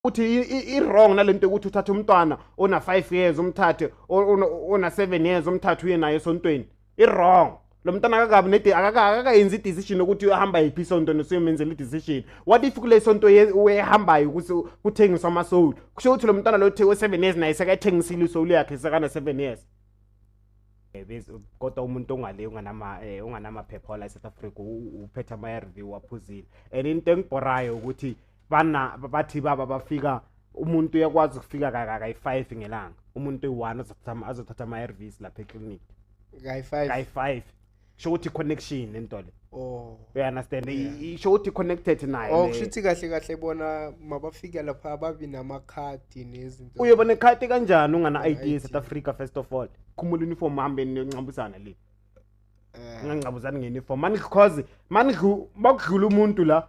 uthi i-wrong nale nto yokuthi uthathe umntwana ona-five years umthathe ona-seven years umthathe uye naye esontweni i-wrong lo mntana akakabi nede akakayenzi i-decision yokuthi uhamba yiphi isonto nesuyomenzela i-decision what if kule sonto uyehambayo ukuthi kuthengiswa amasoul kusho ukuthi lo mntana lo uthe we-seven years naye sekayithengisile isoul yakhe sekana-seven years eh, kodwa umuntu ongale eh, unganamaphepha wala e-south africa uphethe ama-r v waphuzile and into engibhorayo ukuthi bana bathi baba bafika umuntu uyakwazi ukufika kayi-five ngelanga umuntu eyi-one azothatha ama-arvs lapha eclinic kayi-five sho ukuthi i-connection nento le oh. uyaunderstand isho ukuthi i-connected naye oh, kusho ukuthi kahle kahle bona mabafika lapha babi namakhadi nezinto uyoba nekhadi kanjani ungana-i d south africa first of all khumula uniform hambe niyoncambuzana le eh. ngangcabuzani nge-uniform manidlu cause manidlu bakudlula umuntu la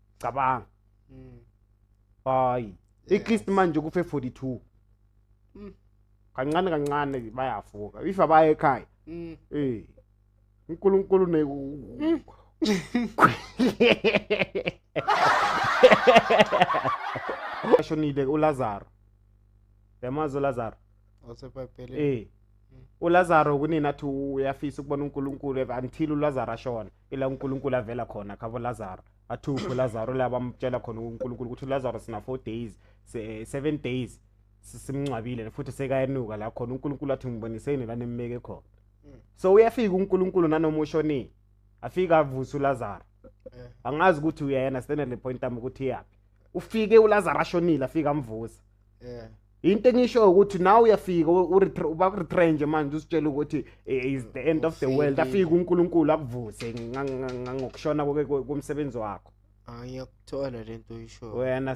cabanga mm. hayi at least manje kufe 42 mm. kancane kancane bayafuka if abaye ekhaya mm. eh uNkulunkulu ne mm. ashonile uLazaro yamazi uLazaro osebhayibhelini eh uLazaro kunini athi uyafisa ukubona uNkulunkulu until uLazaro ashona ila uNkulunkulu avela khona khabo Lazaro athuphe Lazaro la bamtshela khona uNkulunkulu ukuthi Lazaro sina 4 days 7 eh, days simngcwabile futhi sekayenuka la khona uNkulunkulu athi ngiboniseni la nemmeke khona mm. so uyafika uNkulunkulu nanoma ushonile afika avusa uLazaro eh. angazi ukuthi uyayena standard point am ukuthi yaphi ufike uLazaro ashonile afika amvusa eh into engisho ukuthi nawe uyafika ubakuretrenje manje usitshela ukuthi eh, is the end of the world afike uNkulunkulu akuvuse ngokushona komsebenzi wakho ayakuthola lento uyisho wena